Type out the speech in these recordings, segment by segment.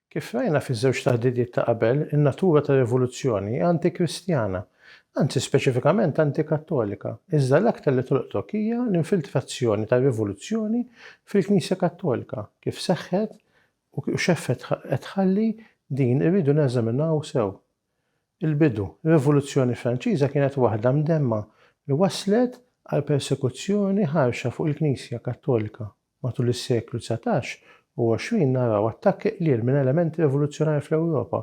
Kif rajna fiż-żewġ taħdidiet ta' qabel, in-natura tar-rivoluzzjoni hi anti-Kristjana, anzi speċifikament anti-Kattolika, iżda l-aktar li tolqtok hija l-infiltrazzjoni tar-rivoluzzjoni fil-Knisja Kattolika, kif seħħet u x'effett qed tħalli din irridu neżaminaw sew. Il-bidu, ir-Rivoluzzjoni Franċiża kienet waħda mdemma li wasslet għal persekuzzjoni ħarxa fuq il-Knisja Kattolika. Matul is-seklu dsatax u għoxrin naraw attakki qliel minn elementi rivoluzzjonari fl-Ewropa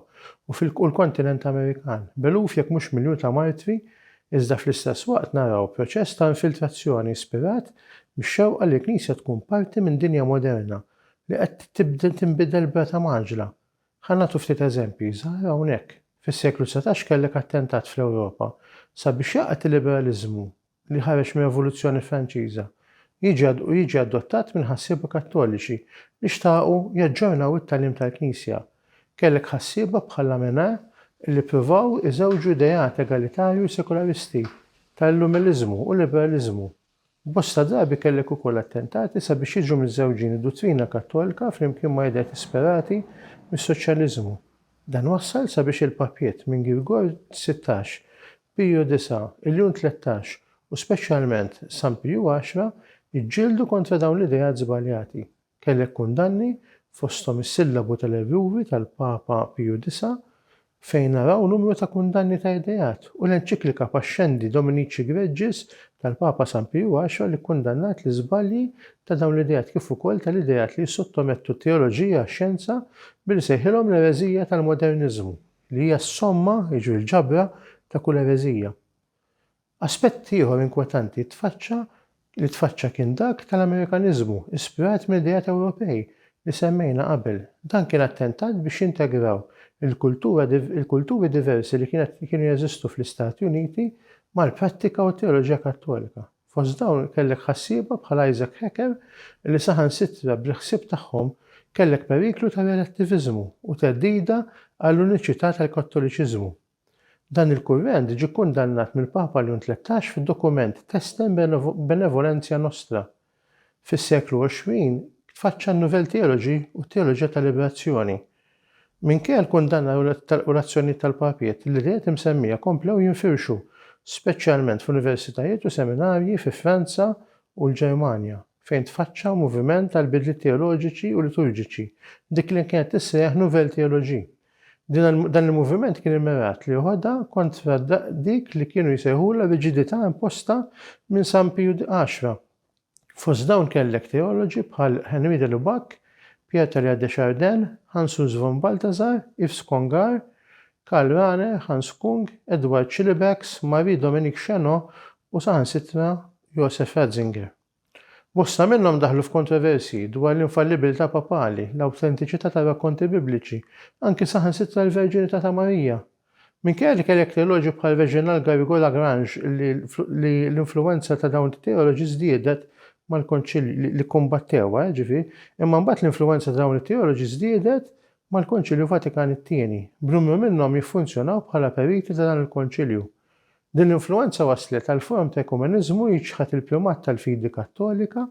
u fil-kontinent Amerikan, b'eluf jekk mhux miljun ta' martri iżda fl-istess waqt naraw proċess ta' infiltrazzjoni ispirat mix-xewqa li l-Knisja tkun parti minn dinja moderna li qed tinbidel b'rata mgħaġġla Ħa nagħtu ftit eżempji żgħar hawnhekk. Fis-seklu dsatax kellek attentat fl-Ewropa sabiex jaqgħad il-liberaliżmu li ħareġ mir-Revoluzzjoni Franċiża jiġi u jiġi adottat minn ħassieba Kattoliċi li xtaqu jaġġornaw it-tagħlim tal-Knisja. Kellek ħassieba bħal Amenard li ppruvaw iżewġu ideat egalitarju sekularisti tal-Illuminiliżmu u l-liberaliżmu. Bosta drabi kellek ukoll attentati sabiex jiġu miżżewġin id-duttrina Kattolka flimkien ma' ideat isperati mis-soċjaliżmu. Dan wassal sabiex il-Papiet minn Girgor sittax, Piju disa', il-Ljun tlettax u speċjalment San Piju għaxra jġġieldu kontra dawn l-ideat żbaljati. Kellek kundanni, fosthom is-sillabu tal-Erruri tal-Papa Piju Disa', fejn naraw numru ta' kundanni ta' ideat, u l-enċiklika Pascendi Dominici Gregis tal-Papa San Piju Għaxra li kkundannat l-iżbalji ta' dawn l-ideat kif ukoll tal-ideat li jissottomettu t-teoloġija għax-xjenza billi sejħilhom l-ereżija tal-moderniżmu li hija s-somma, jiġri l-ġabra, ta' kull ereżija. Aspett ieħor inkwetanti tfaċċa li tfaċċa kien dak tal-Amerikaniżmu, ispirat mill-ideat Ewropej li semmejna qabel. Dan kien attentat biex jintegraw il-kultura il-kulturi diversi li kienet li kienu jeżistu fl-Istati Uniti mal-prattika u t-teoloġija Kattolika. Fost dawn kellek ħassieba bħal Isaac Hecker li saħansitra bil-ħsieb tagħhom kellek periklu ta' relattiviżmu u theddida għall-uniċità tal-Kattoliċiżmu. Dan il-kurrent ġie kkundannat mill-Papa Leon Tlettax fid-dokument Testem Benevolentia Nostra. Fis-seklu għoxrin tfaċċa n-Nouvelle Theologie u t-Teoloġija tal-Liberazzjoni. Minkejja l-kundanna u l-azzjonijiet tal-papiet, l-ideat imsemmija komplew jinfirxu, speċjalment f'universitajiet u seminarji fi Franza u l-Ġermanja, fejn tfaċċa moviment għall-bidliet teoloġiċi u liturġiċi, dik li kienet tissejjaħ Nouvelle Theologie. Dan il-moviment kien immirat li joħodha kontra dik li kienu jsejħulha riġidità imposta minn San Piju Għaxra. Fost dawn kellek teoloġi bħal Henri de Lubac, Pierre Talleyrand de Chardin, Hans Urs von Balthasar, Yves Congar, Karl Rahner, Hans Kung, Edward Schillebeeckx, Marie Dominique Chenot u saħansitra Josef Ratzinger. Bosta minnhom daħlu f'kontroversji dwar l-infallibbiltà papali, l-awtentiċità tar-rakkonti Bibliċi, anki saħansitra l-verġinità ta' Marija. Minkejja li kellek teoloġi bħal Reginald Garrigou-Lagrange li l-influwenza ta' dawn it-teoloġi żdiedet mal-Konċilji li kkumbattewha, jiġifieri, imma mbagħad l-influwenza ta' dawn it-teoloġi żdiedet mal-Konċilju Vatikan it-Tieni, b'numru minnhom jiffunzjonaw bħala periti ta' dan il-Konċilju. Din l-influwenza wasslet għal forom ta' ekumeniżmu jiċħad il-pjumat tal-fidi Kattolika,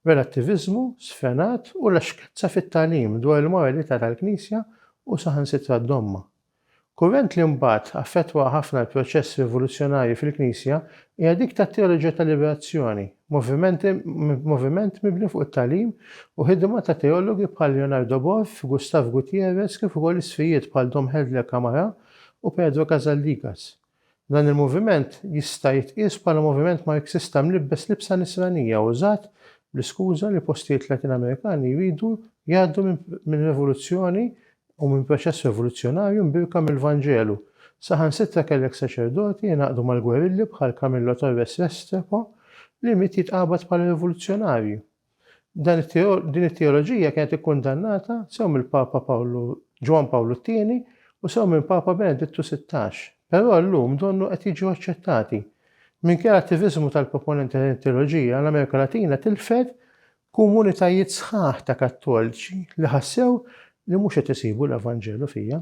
relattiviżmu sfrenat u laxkezza fit-tagħlim dwar il-moralità tal-Knisja u saħansitra d-Dogma. Kurrent li mbagħad affettwa ħafna l-proċess rivoluzzjonarju fil-Knisja hija dik tat-teoloġija tal-liberazzjoni, moviment mibni fuq it-tagħlim u ħidma ta' teologi bħal Leonardo Boff, Gustav Gutierrez kif ukoll isfijiet bħal Dom Helder Camarà u Pedro Casaldigas. Dan il-moviment jista' jitqies bħala moviment Marxista mlibbes libsa nisranija użat bl-iskuża li postijiet Latin Amerikani jridu jgħaddu minn revoluzzjoni u minn proċess revoluzzjonarju mbierka mill-Vanġelu. Saħansitra kellek saċerdoti jingħaqdu mal-gwerilli bħal Camillo Torres Restrepo li miet jitqabad bħala revoluzzjonarju. Din it-teoloġija kienet ikkundannata sew mill-Papa Ġwann Pawlu t-Tieni u sew minn Papa Benedittu Sittax, però llum donnu qed jiġu aċċettati. Minkejja l-attiviżmu tal-proponenti ta' din it-teoloġija, l-Amerika Latina tilfet komunitajiet sħaħ ta' Kattoliċi li ħassew li mhux qed isibu l-Evanġelu fiha.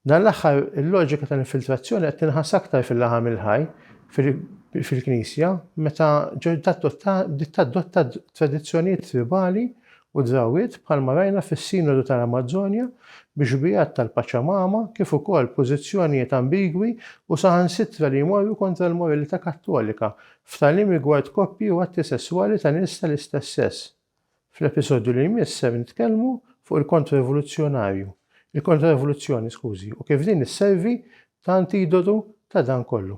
Dan l-aħħar il-loġika tal-infiltrazzjoni qed tinħass aktar fil-laħam il-ħaj fil-Knisja meta bdiet tadotta tradizzjonijiet tribali u drawwiet bħalma rajna fis-Sinodu tal-Amazzonja bi xbiehat tal-Paċamama kif ukoll pożizzjonijiet ambigwi u saħansitra li jmorru kontra l-moralità Kattolika f'tagħlim rigward koppji u atti sesswali ta' nies tal-istess sess. Fl-episodju li jmiss ser nitkellmu fuq il-Kontra-Rivoluzzjonarju, il-Kontra-Rivoluzzjoni, skużi, u kif din isservi ta' antidotu ta' dan kollu.